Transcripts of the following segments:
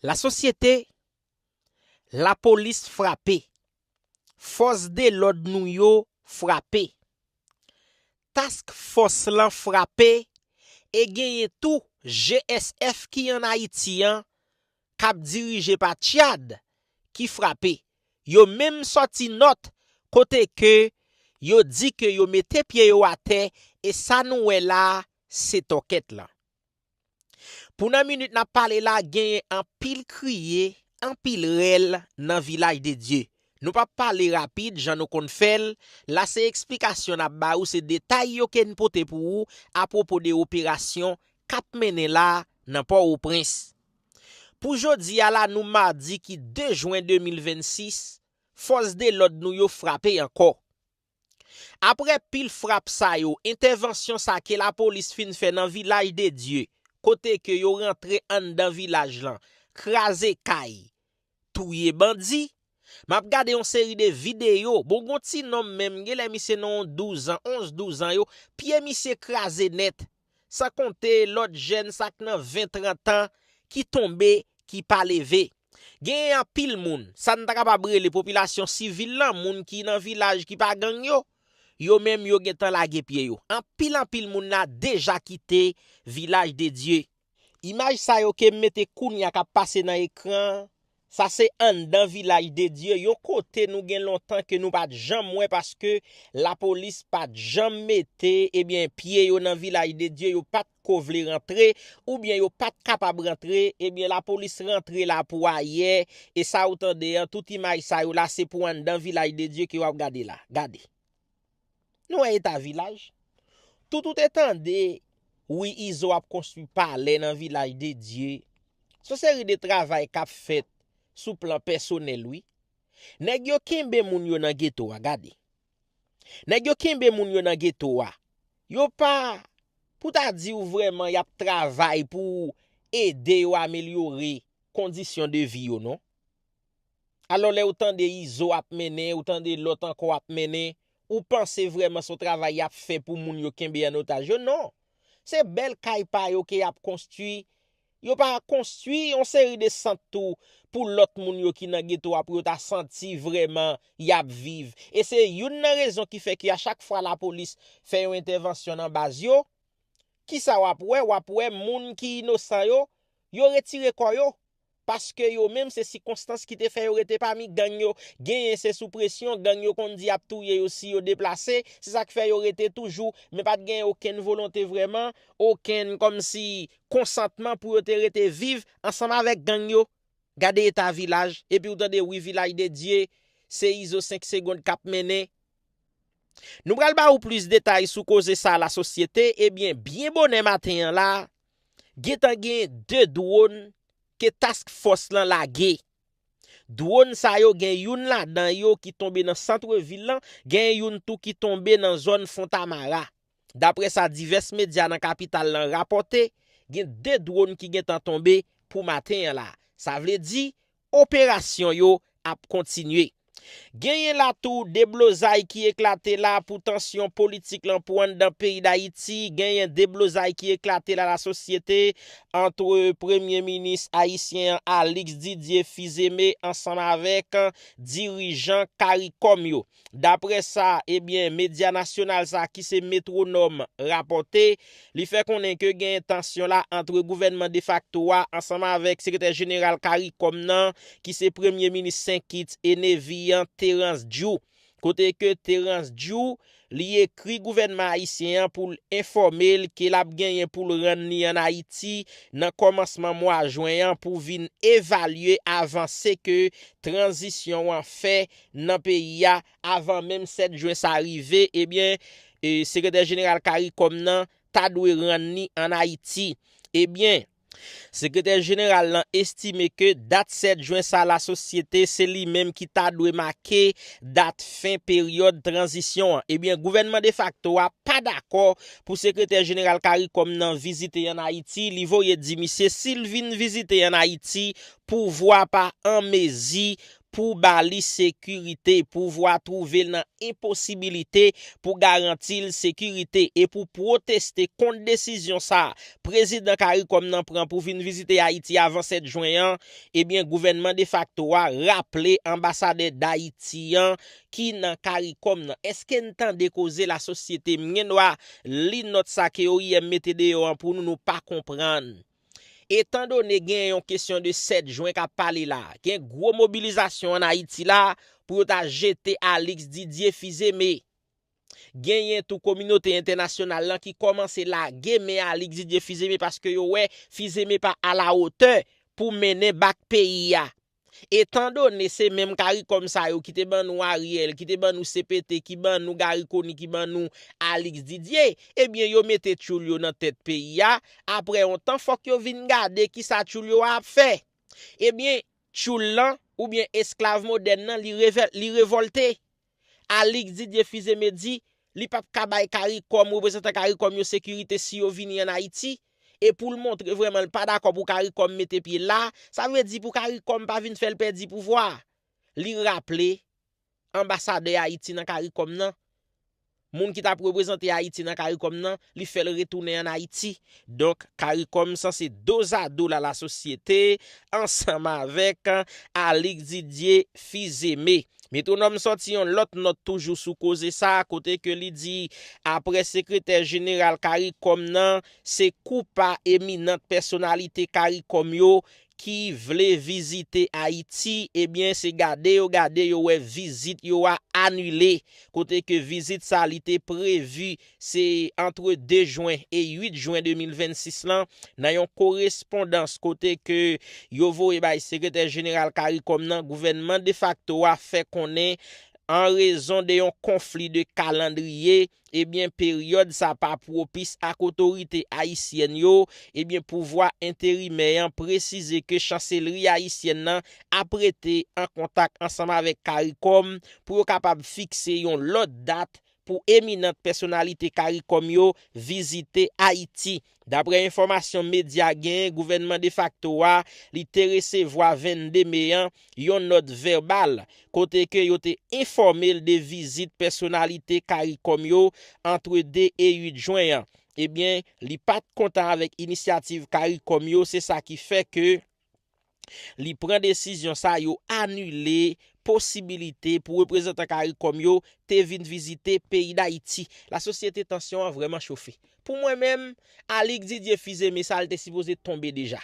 Lasosyete, Lapolis frape, fòs delòd nou yo frape, Task Fòs lan frape e genyen tou GSF ki an Ayiti an kap dirije pa Tchad ki frape. Yo menm sòti nòt kote ke yo di ke yo mete pye yo atè e sa nou wè la se tòkèt lan. Pou nan minit nap pale la genyen anpil kriye, anpil rèl nan vilaj de Dye. Nou pap pale rapid jan nou konn fèl la se eksplikasyon nap ba ou se detay yo ken pote pou ou a pwopo de operasyon kap mennen la nan pò o prens. Pou jodi a la nou madi ki 2 jwen 2026 fòs de lòd nou yo frape ankò. Aprè pil frap sa yo, entèvansyon sa ke lapolis fin fè nan Vilaj de Dye, kote ke yo rantre anndan vilaj lan, kraze kay, touye bandi, map gade yon seri de videyo, bon gon ti nonm menm, genlè misye nan yon 12 an, 11, 12 an yo, pye misye kraze nèt, San konte lòt jèn sa k nan ven trantan ki tonbe ki pa leve. Genyen anpil moun, sa n ta kapab rele popilasyon sivil lan, moun ki nan vilaj ki pa gang yo, yo menm yo gentan lage pye yo. Anpil anpil moun la deja kite Vilaj de Dye. Imaj sa yo ke m mete kounye a k ap pase nan ekran an, Sa se anndan vilaj de Dye, yon kote nou gen lontan ke nou pat janm wè paske lapolis pat janm mete ebyen pye yo nan vilaj de Dye yo pat ko vle rantre oubyen yo pat kapab rantre ebyen lapolis rantre la pou ayè e sa ou tande an tout imaj sa yo la se pou anndan vilaj de Dye ke wap gade la gade. Nou wè eta vilaj. Tout ou te tande wi izo ap konstwi palè nan vilaj de Dye. Son seri de travay kap fèt sou plan pèsonèl wi. Nèg yo kenbe moun yo nan geto a gade. Nèg yo kenbe moun yo nan geto a. Yo pa pou ta diw vrèman yap travay pou ede yo amelyore kondisyon de vi yo non. Alò lè ou tande Izo ap mennen, ou tande lòt ankò ap mennen, ou panse vrèman se yon travay y ap fè pou moun yo kenbe an otaj yo? Non! Se bèl kay pa yo ke y ap konstwi. Yo pa konstwi yon seri de sant tou pou lòt moun yo ki nan geto a pou yo ta santi vrèman y ap viv. E se youn nan rezon ki fè ke a chak fwa lapolis fè yon entèvansyon nan baz yo, kisa w ap wè? W ap wè moun ki inosan yo, yo retire kò yo. paske yo menm se sikonstans ki te fè yo rete pami gang yo, genyen se sou presyon gang yo konn di yap touye yo si yo deplase, se sak fè yo rete toujou, men pat genyen okenn volonte vrèman, okenn kòmsi konsantman pou yo te rete viv ansanm avèk gang yo, gade eta vilaj, epiw tande wi vilaj de dye, se izo 5 segond kap mennen. Nou pral ba ou plis detay sou koze sa lasosyete, ebyen byen bonè maten an la, gentan gen 2 dwon ke task fòs lan lage. Dwon sa yo gen youn ladan yo ki tonbe nan santre vil lan, gen youn tou ki tonbe nan zòn Fontamara. Daprè sa divès medya nan kapital lan rapòte, gen 2 dwon ki gentan tonbe pou maten an la. Sa vle di, Operasyon yo ap kontinye. Genyen la tou deblozay ki eklate la pou tansyon politik lan pou anndan peyi Dayiti, genyen deblozay ki eklate la lasosyete antre premye minis ayisyen an Alix Didier Fils-Aimé ansanm avèk dirijan caricom yo. Daprè sa ebyen medya nasyonal sa ki se Metwonòm rapòte, li fè konnen ke genyen tansyon la antre gouvènman defakto a ansanm avèk sekretè jeneral caricom nan ki se premye minis Sen Kits e Nevi an Terrence Djou. Kote ke Terrence Djou li ekri gouvènman ayisyen an pou l enfòme l ke l ap genyen pou l rann li an Ayiti nan kòmansman mwa jwen an pou vin evalye avanse ke tranzisyon an fè nan peyi a avan menm 7 jwen sa rive ebyen sekretè jeneral caricom nan ta dwe rann li an ayiti ebyen sekretè jeneral lan estime ke dat 7 jwen sa lasosyete se li menm ki ta dwe make dat fen peryòd tranzisyon an ebyen gouvènman defakto a pa dakò pou sekretè jeneral caricom nan vizite an ayiti li voye di misye sil vin vizite an ayiti pouvwa pa anmezi pou ba li sekirite, pouvwa twouve l nan enposibilite pou garanti l sekirite e pou pwoteste kont desizyon sa a Prezidan caricom nan pran pou vin vizite Ayiti avan 7 jwen an, ebyen gouvènman defakto a raple anbasadè Dayiti an ki nan caricom nan. Eske n tande koze la sosyete? M gen dwa li nòt sa ke oim mete deyò an pou nou, nou pa konprann. Etan done gen yon kesyon de 7 jwen k ap pale la, gen gwo mobilizasyon an Ayiti la pou yo ta jete Alix Didier Fils-Aimé. Genyen tou kominote entènasyonal lan ki kòmanse lage men Alix Didier Fils-Aimé paske yo wè Fils-Aimé pa alawotè pou mennen bak peyi a Etandone se menm karikòm sa yo ki te ban nou Ariel, ki te ban nou CPT, ki ban nou Garry Conille, ki ban nou Alix Didier, ebyen yo mete tchoul yo nan tèt peyi a, aprè yon tan fòk yo vin gade kisa tchoul yo a ap fè. Ebyen, tchoul lan, oubyen esklav modèn lan li revòlte. Alix Didier Fils-Aimé di li pap ka bay caricom, reprezantan caricom yo sekirite si yo vini an Ayiti, e pou l montre vrèman l pa dakò pou caricom mete pye la, sa vle di pou caricom pa vin fè l pèdi pouvwa a. Li raple, anbasadè Ayiti nan caricom nan, Moun ki tap reprezante Ayiti nan Caricom nan, li fè l retounen an Ayiti. Donk, Caricom sanse dozado la la sosyete ansanm avèk Alix Didier Fils-Aimé. Métronome sòti yon lòt nòt toujou sou koze sa a kote ke li di aprè sekretè jeneral Caricom nan, se kou pa eminant pèsonalite Caricom yo ki vle vizite Ayiti ebyen se gade yo gade yo wè vizit yo a anile kote ke vizit sa li te prevu se antre 2 jwen e 8 jwen 2026 lan nan yon korespondans kote ke yo voye bay sekretè jeneral caricom nan gouvènman defakto a fè konnen an rezon de yon konfli de kalandriye Ebyen peryòd sa pa pwopis ak otorite ayisyèn yo, ebyen pouvwa enterimè an presize ke chanselri ayisyèn nan ap rete an kontak ansanm avèk caricom pou yo kapab fikse yon lòt dat pou eminant pèsonalite caricom yo vizite Ayiti. Daprè enfòmasyon medya genyen gouvènman defakto a li te resevwa 22 me an yon nòt vèbal kote ke yo te enfòme l de vizit pèsonalite caricom yo antre 2 e 8 jwen an ebyen li pat kontan avèk inisyativ caricom yo se sa ki fè ke li pran desizyon sa yo anile posibilite pou reprezantan caricom yo te vin vizite peyi Dayiti. La sosyete tansyon an vrèman chofe. Pou mwen menm, Alix Didier Fils-Aimé sa l te sipoze tonbe deja.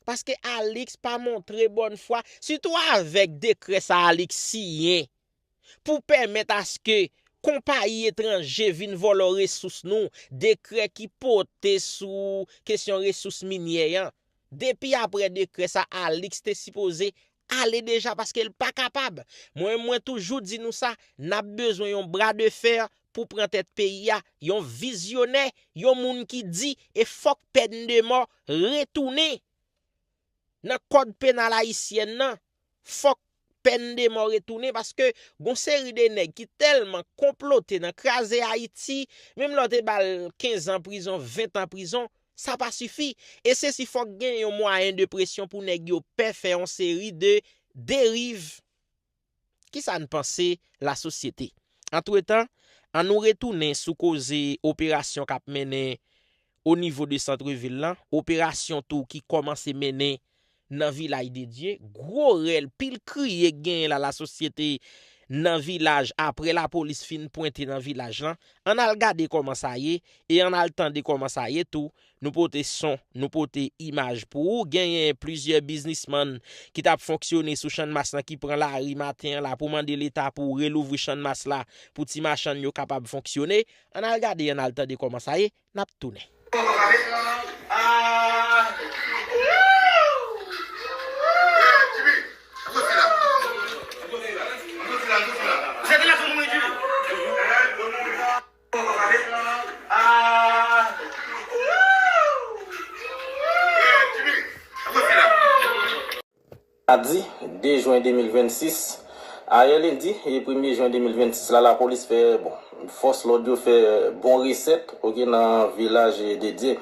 Paske Alix pa montre bòn fwa, sitou avèk dekrè sa Alix siyen. pou pèmèt aske konpayi etranje vin vòlò resous nou, dekrè ki pote sou kesyon resous minyè an. Depi aprè dekrè sa Alix te sipoze ale deja paske l pa kapab. Mwen menm mwen toujou di nou sa, n ap bezwen yon bra de fer pou pran tèt peyi a, yon vizyonè, yon moun ki di e fòk pèn de mò retounen nan kòd penal ayisyèn nan. fòk pèn de mò retounen paske gon seri de nèg ki tèlman konplote nan kraze Ayiti, menm lè w te ba l 15 an prizon, 20 an prizon, sa pa sifi. E se si fòk gen yon mwayen de presyon pou nèg yo pè fè yon seri de deriv. Ki sa n panse lasosyete? Antretan, an nou retounen sou koze operasyon k ap mennen o nivo de santre vil lan, operasyon tou ki kòmanse mennen nan Vilaj de Dye, gwo rèl, pil kriye k genyen la lasosyete nan vilaj aprè lapolis fin pwente nan vilaj lan, ann al gade kòman sa ye e ann al tande kòman sa ye tou, nou pote son, nou pote imaj pou ou, genyen plizyè biznismann ki t ap fonksyone sou Channmas lan ki pran lari maten an la pou mande leta pou relouvri Channmas la pou ti machann yo kapab fonksyone, ann al gade ann al tande kòman sa ye. nap tounen. Madi 2 jwen 2026, ayè lendi premye jwen 2026 la, lapolis fè bon, fòs lòd yo fè bon resèt ok nan vilaj dedye.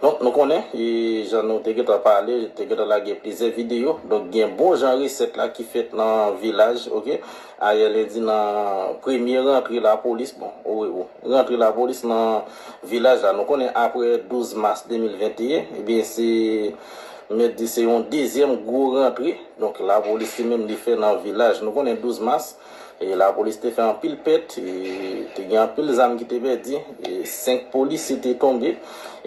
Donk nou konnen jan nou te gentan pale, te gentan lage plizyè videyo, donk gen bon jan resèt la ki fèt nan vilaj ok ayè lendi nan premye rantre lapolis bon wi bon rantre lapolis nan vilaj la. Nou konnen aprè 12 mas 2021 ebyen se. M mèt di se yon dezyèm gwo rantre donk lapolis li menm li fè nan vilaj. Nou konnen 12 mas lapolis te fè anpil pèt, te gen anpil zam ki te pèdi, 5 polisye te tonbe.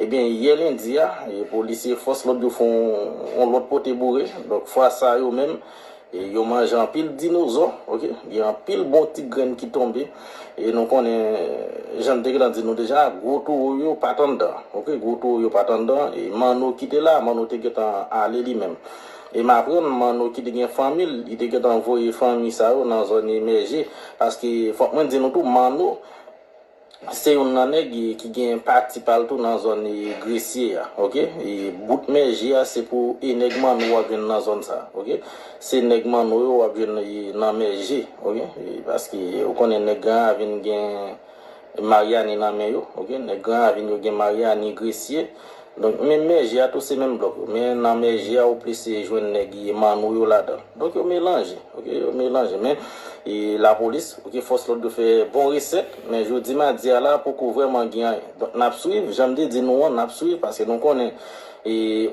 Ebyen yè lendi a polisye fòs lòd yo fè yon lòt pote boure donk fwa sa yo menm Yo manje anpil dinozò ok. Gen anpil bon ti grenn ki tonbe. E nou konnen jan n te gentan di nou deja gwo towo yo pa t anndan ok. Gwo towo yo pa t anndan. E Manno ki te la, Manno te gentan ale li menm. E m aprann Manno ki te gen fanmi l, li te gentan voye fanmi sa yo nan zòn emèje. Paske fòk mwen di nou tou Manno. Se youn nan nèg ki gen pati pa l tou nan zòn Gresye a ok. Bout Mèje a se pou e nèg Manno w ap jwenn nan zòn sa ok. Se nèg Manno yo w ap jwenn nan Mèje ok. Paske ou konnen nèg Gran Ravin gen Maryani nan men yo ok. Nèg Gran Ravin yo gen Maryani, Gresye. Donk men mèje a tou se menm blòk yo men nan mèje a ou plis jwenn nèg Manou yo ladan. Donk yo melanje ok yo melanje men lapolis ok fòs lòd yo fè bon resèt men jodi madi a la poko vrèman gen anyen. Donk n ap swiv jan m te di nou an n ap swiv paske nou konnen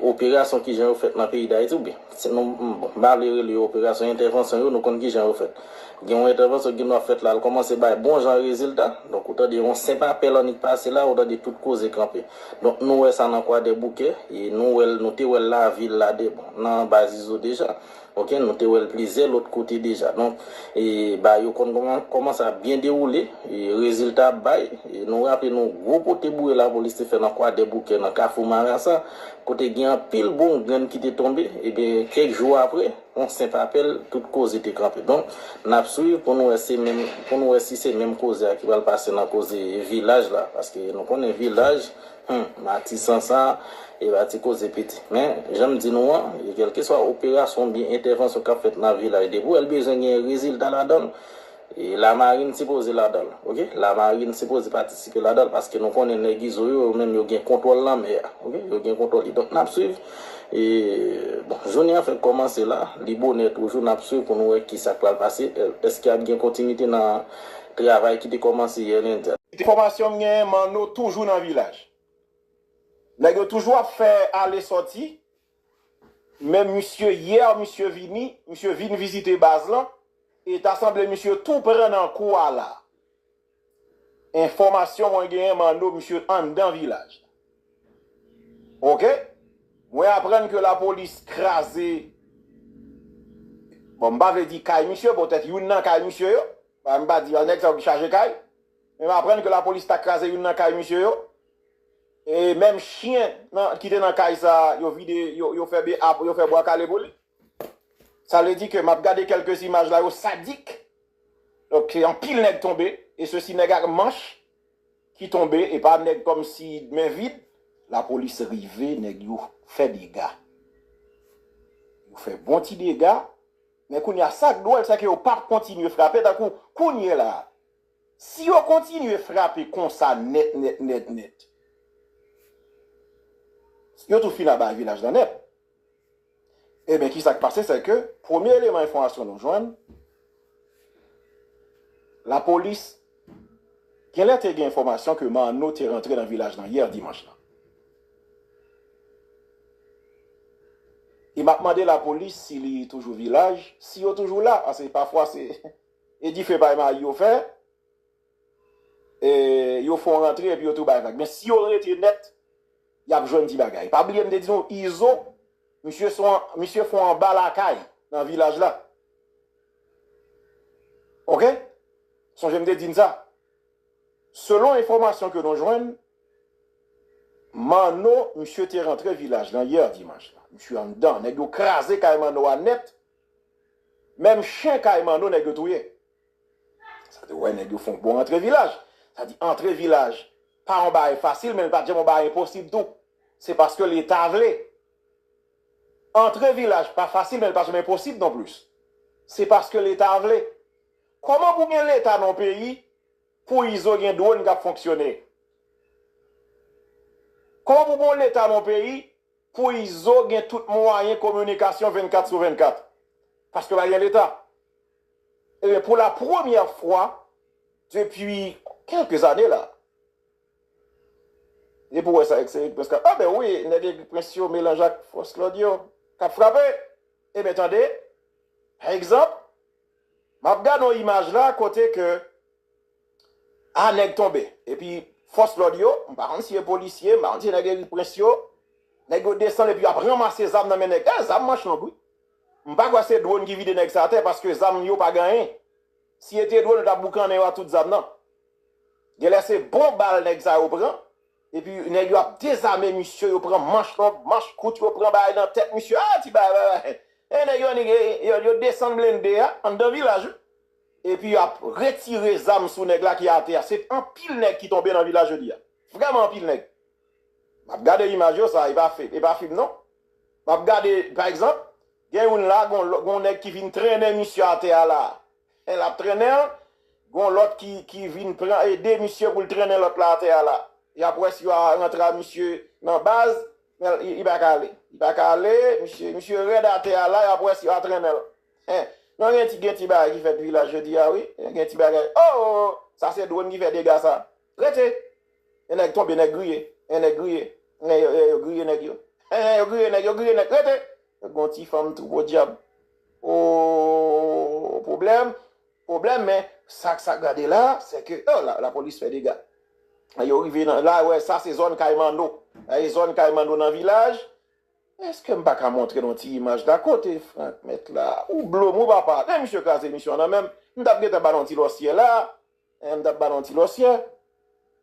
operasyon kijan yo fèt nan peyi Dayiti oubyen si nou bon m pa vle rele yo operasyon entèvansyon yo nou konn kijan yo fèt gen yon entèvansyon ki gen dwa fèt la l kòmanse bay bon jan rezilta donk ou tande yon senp apèl annik pase la ou tande tout koze kanpe. Donk nou wè sa nan kwadèboukè e nou wèl nou te wèl lavil la de bon nan anba zizo deja ok nou te wèl plizyè lòt kote deja donk e ba yo konn kòman kòman sa ap byen dewoule e rezilta ap bay e nou raple nou gwo pote boure lapolis te fè nan kwadèboukè nan kafou marasa kote gen anpil bon grenn ki te tonbe ebyen kèk jou aprè. On senp apèl, tout koze te kanpe. Donk, n ap swiv pou n wè se menm, pou n wè si se menm koze a ki pral pase nan koze vilaj la. Paske nou konnen vilaj, hum, Matisan sa, e pa ti koze piti. Men, jan m di nou an, e kèlkeswa operasyon oubyen entèvansyon k ap fèt nan vilaj, depi w wè l bezwen gen rezilta ladan l, E la marine sipoze ladanl ok la marine sipoze patisipe ladanl paske nou konnen nèg izo yo yo menm yo gen kontwòl lanmè a ok yo gen kontwòl li donk nap swiv e bon jounen an fèk kòmanse la li bonè toujou nap swiv pou nou wè kisak pral pase èske ap gen kontinite nan travay ki te kòmanse yè lendi a. Enfòmasyon m genyen manno toujou nan vilaj nèg yo toujou ap fè ale sòti Men misye hier misye vini misye vin vizite baz lan e ta sanble misye tou pran nan kou a la enfòmasyon mwen genyen manno misye anndan vilaj la ok mwen aprann ke lapolis kraze bon m pa vle di kay misye poutèt youn nan kay misye yo m pa di nèg sa yo ki chaje kay men m aprann ke lapolis ta kraze youn nan kay misye yo. E menm chyen ki te nan kay sa yo vide yo fè be a yo fè bwa kale pou li. Sa vle di ke map gade kelkes imaj la yo sadik. Donk anpil nèg tonbe e se si nèg ak manch ki tonbe e pa nèg kom si men vid. La polis rive nèg yo fè dega. Yo fè bon ti dega men kounya sak dwol se ke yo pap kontinye frape tankou kounye la Si yo kontinye frape konsa nèt nèt nèt nèt, yo tou fin aba vilaj lan nèt. Eben ki sa k pase se ke premye eleman enfòmasyon nou jwenn, lapolis gen lè te gen enfòmasyon ke Manno te rantre nan vilaj lan yè dimanch lan. E m ap mande lapolis si li toujou vilaj, si yo toujou la, pase pafwa se. E dife bay mayi yo fè yo fon rantre epi yo tou bay vag men si yo rete nèt yap jwenn ti bagay pa bliye m te di nou izo misye son misye fon anba lakay nan vilaj la ok sonje m te di n sa selon enfòmasyon ke nou jwenn manno misye te rantre vilaj la yè dimanch la misye anndan nèg yo kraze kay manno a nèt. Menm chen kay manno nèg yo touye. Sa te wè nèg yo fon bon antre vilaj. Sa di antre vilaj pa yon bagay fasil men li pat janm yon bagay enposib tou. Se paske leta vle. Antre vilaj pa fasil men li pa janm enposib non plis. Se paske leta vle. Koman pou gen leta nan yon peyi pou izo gen dwon kap fonksyone? Koman pou gen yon leta nan yon peyi Pou izo gen tout mwayen kominikasyon 24 sou 24 paske pa gen leta ebyen pou la premyè fwa depi kèlke ane la depi ou wè sa se egri prens kap a ben wi nèg egri prens yo melanje ak fòs lòd yo kap frape ebyen tande pa egzanp map gade yon imaj la kote ke Ah nèg tonbe. Epi fòs lòd yo, m pa konn si e polisye, m pa konn si e nèg Eriprens yo, nèg yo desann epi yo ap ranmase zam nan men nèg. Dayè zam manch long wi. M pa kwè se dwòn ki vide nèg sa atè paske zam yo pa gen anyen. Si e te dwòn yo t ap boukannen yo ak tout zam nan. Genlè se bon bal nèg sa yo pran epi nèg yo ap dezame misye yo pran manch long, manch kout yo pran bay nan tèt misye. Ah ti bagay! Nèg yo annik yo desann blende a anndan vilaj wi. Epi yo ap retire zam sou nèg la ki atè a. Se anpil nèg ki tonbe nan vil la jodi a. Vrèman anpil nèg. M ap gade imaj yo, sa e pa fim non. M ap gade, pa egzanp, gen youn la, gon nèg ki vin trennen misye atè a la. Lè l ap trennen l, gon lòt ki vin pran ede misye pou l trennen lòt la atè a la. Y ap wè si yo rantre a misye nan baz, men li pa ka ale. Li pa ka ale, misye rèd atè a la, y ap wè si yo atrennen l. Hein non gen ti gen ti bagay ki fèt vilaj jodi a wi gen ti bagay oo sa se drone ki fè dega sa rete yon nèg tonbe nèg griye yon nèg griye eh yo griye nèg yo hein yo griye nèg yo griye nèg rete gon ti fanm tou podyab ooh pwoblèm pwoblèm men sak sak gade la se ke oh la polis fè dega yo rive nan la wè sa se zòn kay manno zòn kay manno nan vilaj. Eske m paka montre nou ti imaj la kote Franck met la ou blom wi papa men misye kraze emisyon an nan menm m tap gentan ba nou ti lòsyè la hein m tap ba nou ti lòsyè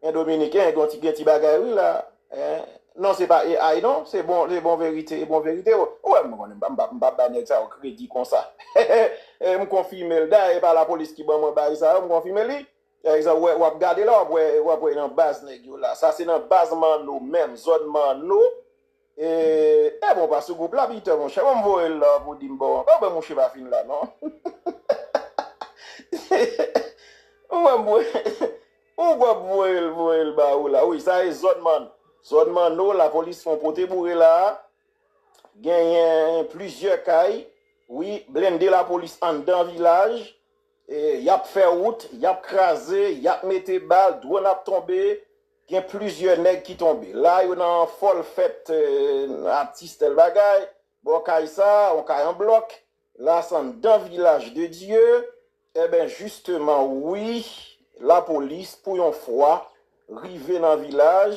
hein dominiken gon ti gen ti bagay wi la hein non se pa AI non se bon se bon verite e bon verite ou wè m konnen m pap m pap bay nèg sa yo kredi konsa heheheh m konfime l dayè e pa lapolis ki ban mwen baay sa yo m konfime li exa ou wè wap gade la wap wè wap wè nan baz nèg yo la sa se nan baz manno menm zòn manno. Eeh ebon pa sou group la Peter monchè banm voyel la pou dim bon anben mouche pa fin la non ou pap voyel voyel ba ou la wi sa e zòn man zòn manno la polis fon pote boure la a genyen plizyè kay wi blende la polis anndan vilaj yap fè wout yap kraze yap mete bal dwon ap tonbe Gen plizyè nèg ki tonbe. La yo nan fòl fèt atis tèl bagay. Bò kay sa, on kay an blòk. La s anndan vilaj de Dye. Enben jisteman wi lapolis pou yon fwa rive nan vilaj